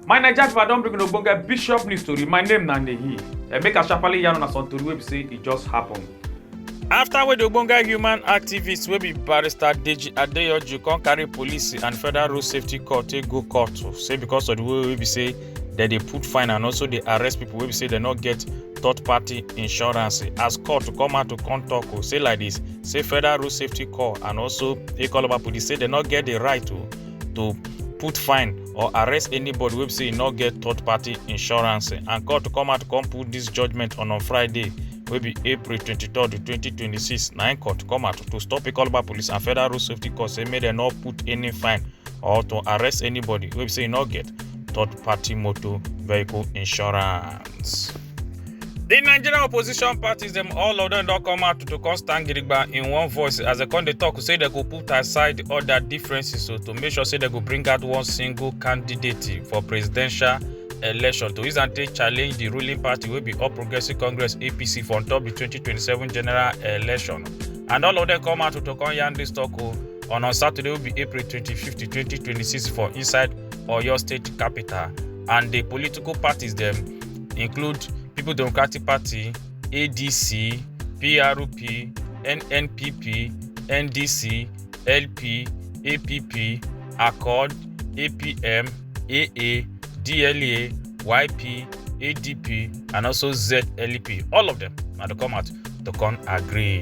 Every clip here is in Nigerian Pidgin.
my naija pipo i don bring una ogbonge bishop news tori my name na nehi eh, make i sharparly yarn una some tori wey be say e just happen. afta wey di ogbonge human activist wey be barrister deji adeyanju come carry police and federal road safety corps take go court say because of di way wey be say dem dey put fine and also dey arrest people wey be say dem no get third party insurance as court to come out to come talk o say like this say federal road safety corps and also ikoloba police say dem no get the right to to put fine or arrest anybody wey be say e no get third party insurance and court to come out to come put this judgement on on friday wey be april 23 2026 na im court come out to stop ikoloba police and federal road safety corps say make dem no put any fine or to arrest anybody wey be say e no get third party motor vehicle insurance. The Nigerian opposition parties, them all of them don't come out to come stand Gidigba in one voice as they come they talk, say they go put aside all their differences so to make sure say they go bring out one single candidate for presidential election to use and take challenge the ruling party will be All Progressive Congress APC for on top the 2027 general election. And all of them come out to come yarn this talk oh, on on Saturday will be April 25th, 2026 for inside for your state capital and the political parties them include people democratic party adc prp nnpp ndc lp app accord apm aa dla yp adp and also zlp all of them now to come out to come agree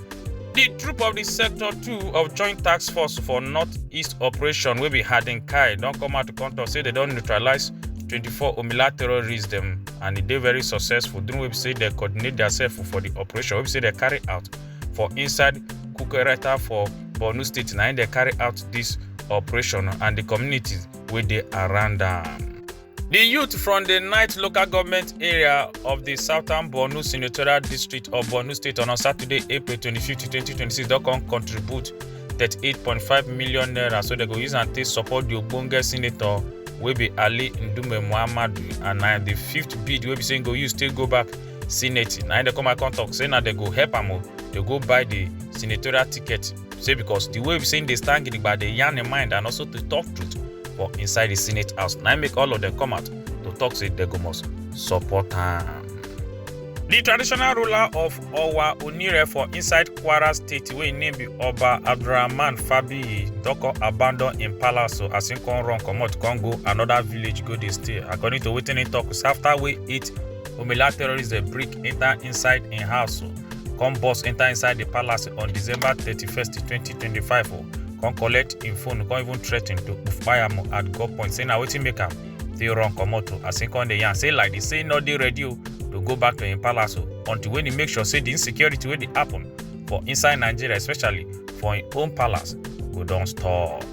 di troop of di sector 2 of joint tax force for northeast operation wey be hadin kai don come out to come tok say dem don neutralise 24 omila terrorists dem and e dey very successful during wey be say dem coordinate diasef for di operation wey be say dem carry out for inside kukereta for borno state na im dem carry out dis operation and di communities wey dey around am. di youth from di ninth local government area of di southern borno senatorial district of borno state on saturday april 25 2026 don come contribute 38.5 million naira so dem go use am take support di ogbonge senator wey be ali ndume muhammadu and na di fifth bid wey be say im go use take go back senate na im dem come out come tok say na dem go help am o dey go buy di senatorial ticket say because the way we say they stand gidigba dey yarn im mind and also to talk truth for inside the senate house na make all of them come out to talk say they go must support am. The traditional ruler of Owa Onire for inside Kwara State wey im name be Oba Abdulrahman Fabiyi don come abandon im palace o as im come run comot come go another village go dey stay according to wetin im talk say after wey eight Omila terrorists dey break enter inside im house o, come burst enter inside the palace on December 31st, 2025 o, come collect im phone, come even threaten to kpai am at gunpoint say na wetin make am take run comot o, as im come dey yarn say like this say im no dey ready o to go back to im palace o until when e make sure say the insecurity wey dey happen for inside Nigeria especially for im own palace go don stop.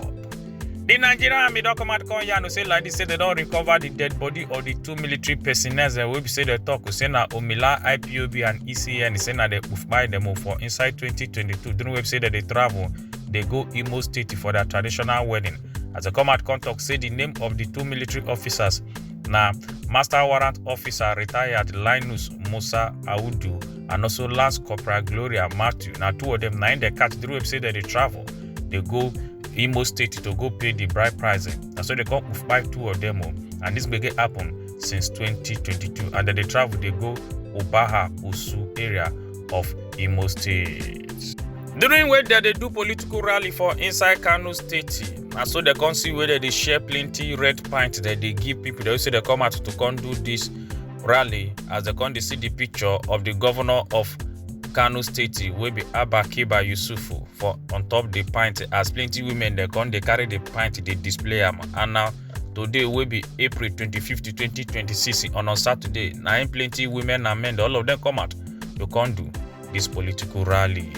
di nigerian army don come out come yarn say like dis say dem don recover di dead body of di two military personnel dem wey be say dem tok say na omila ipob and ecn say na dem kpai dem o for inside 2022 during wey be say dem dey travel dey go imo state for their traditional wedding as dem come out come tok say di name of di two military officers na master warrant officer retired linus musa audu and also lance corporal gloria matthew na two of dem na im dem catch during wey be say dem dey travel dey go imo state to go pay di bride price na so dey come kpai two of dem o and dis gbege happen since 2022 and dem dey travel dey go obaha osu area of imo state. during wey dem dey do political rally for inside kano state na so dem come see wey dem dey share plenty red pint dem dey give pipo dem say dem come out to come do dis rally as dem come dey see di picture of di govnor of kano state wey be abba kiba yusufu. for on top the pint as plenty women they come they carry the pint they display them. and now today will be april 25th 2026 on a saturday nine plenty women and men all of them come out to come do this political rally.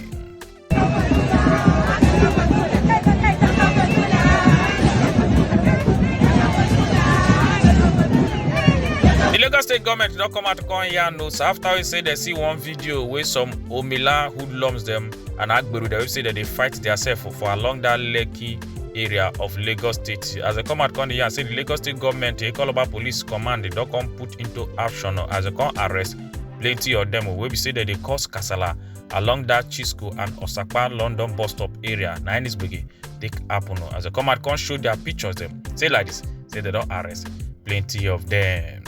The Lagos state government don come out come yarn us after we say they see one video where some Omila hoodlums them. and Agberu, they say that they fight themselves for, for along that Lekki area of Lagos State. As they come out come here and say the Lagos State government, they call about police command, they don't come put into action as they come arrest plenty of them wey be say dem dey cause kasala along that chisco and osapa london bus stop area na any gbege take happen o as dem come out come show their pictures dem say like this say dem don arrest plenty of them.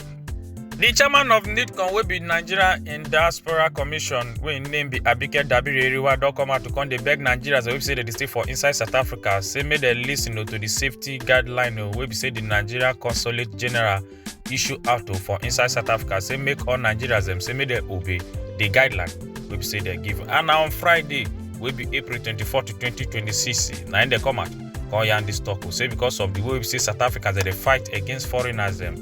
di chairman of nidcom wey be nigeria in diaspora commission wey im name be abike dabiri eriwa don come out to come dey beg nigerians wey be say dem dey stay for inside south africa say make dem lis ten to di safety guideline wey be say di nigeria consulate general issue out for inside south africa say make all nigerians dem say make dem obey di guideline wey be say dem give and na on friday wey be april 24 to 2026 na im dem come out come yarn dis talk say because of di way wey be say south africans dem dey fight against foreigners dem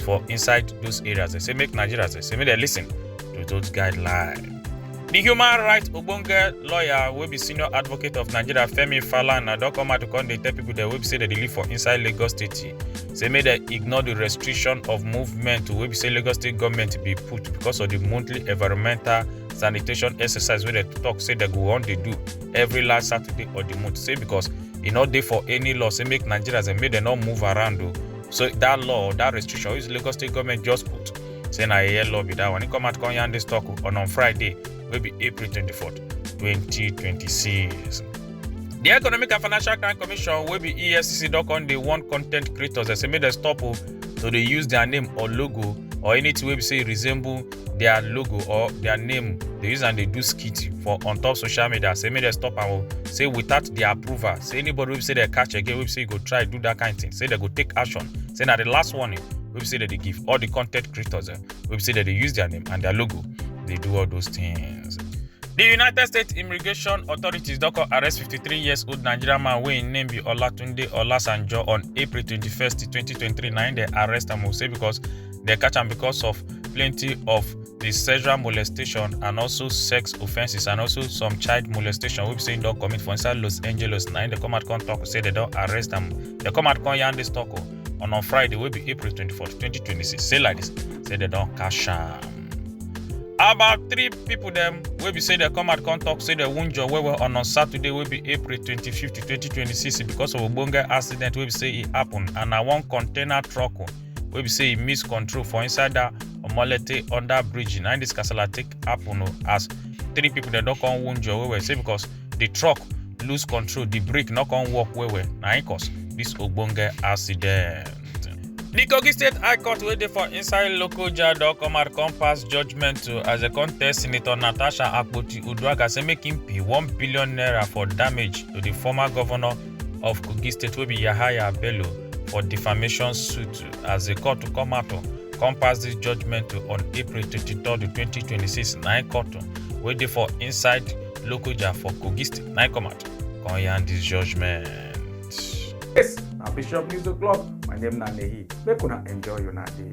for inside those areas they say make nigerians they say make they listen to those guidelines the human rights ogbonge lawyer wey be senior advocate of nigeria femi falana don come out to come dey tell people dem wey be say dem dey live for inside lagos state say make dem ignore the restriction of movement wey be say lagos state government bin put because of the monthly environmental sanitation exercise wey dem talk say dem go wan dey do every last saturday of the month say because e no dey for any law say make nigerians dem make dem no move around o So that law, that restriction, which Lagos State government just put, saying I hear law be that one. He come out come yarn this talk on on Friday, will be April 24th, 2026. The Economic and Financial Crime Commission will be ESCC dot on the one content creators. They say make them stop oh, so they use their name or logo or anything wey be say resemble their logo or their name dey use am dey do skit for on top social media say make dem stop am o say without their approval say anybody wey be say dem catch again wey be say go try do that kind thing say dem go take action say na the last warning wey be say dem dey give all the content creators dem wey be say dem dey use their name and their logo dey do all those things. The United States Immigration Authorities don come arrest 53 years old Nigerian man wey im name be Olatunde Olasanjo on April 21, 2023. Na im dem arrest am o say because dem catch am because of plenty of the sexual molestation and also sex offences and also some child molestation wey be say im don commit for inside los angeles na im dey come out come talk say dem don arrest am dem come out come yarn dis talk o on on friday wey be april 24 2026 say like dis say dem don catch am. about three pipo dem wey be say dem come out come talk say dem wound jor well well on on saturday wey be april 25 2026 because of ogbonge accident wey be say e happen and na one container truck wey be say e miss control for inside that omolete under bridge na this kasala take happen o as three people dem don come wound well well say because the truck lose control the brake no come work well well na im cause this ogbonge accident. The Kogi State High Court wey dey for inside Lokoja don come out come pass judgment to as dem come tell Senator Natasha Akpoti-Uduaghan say make im pay one billion naira for damage to the former governor of kogi state wey be yahaya bello for defamation suit as di court to come out to come pass dis judgment to on april 23 2026 nine court wey dey for inside lokoja for kogi state nine come out come yarn dis judgment. Yes, na Bishop News O'Clock. My name na Nehi. Make una enjoy una day.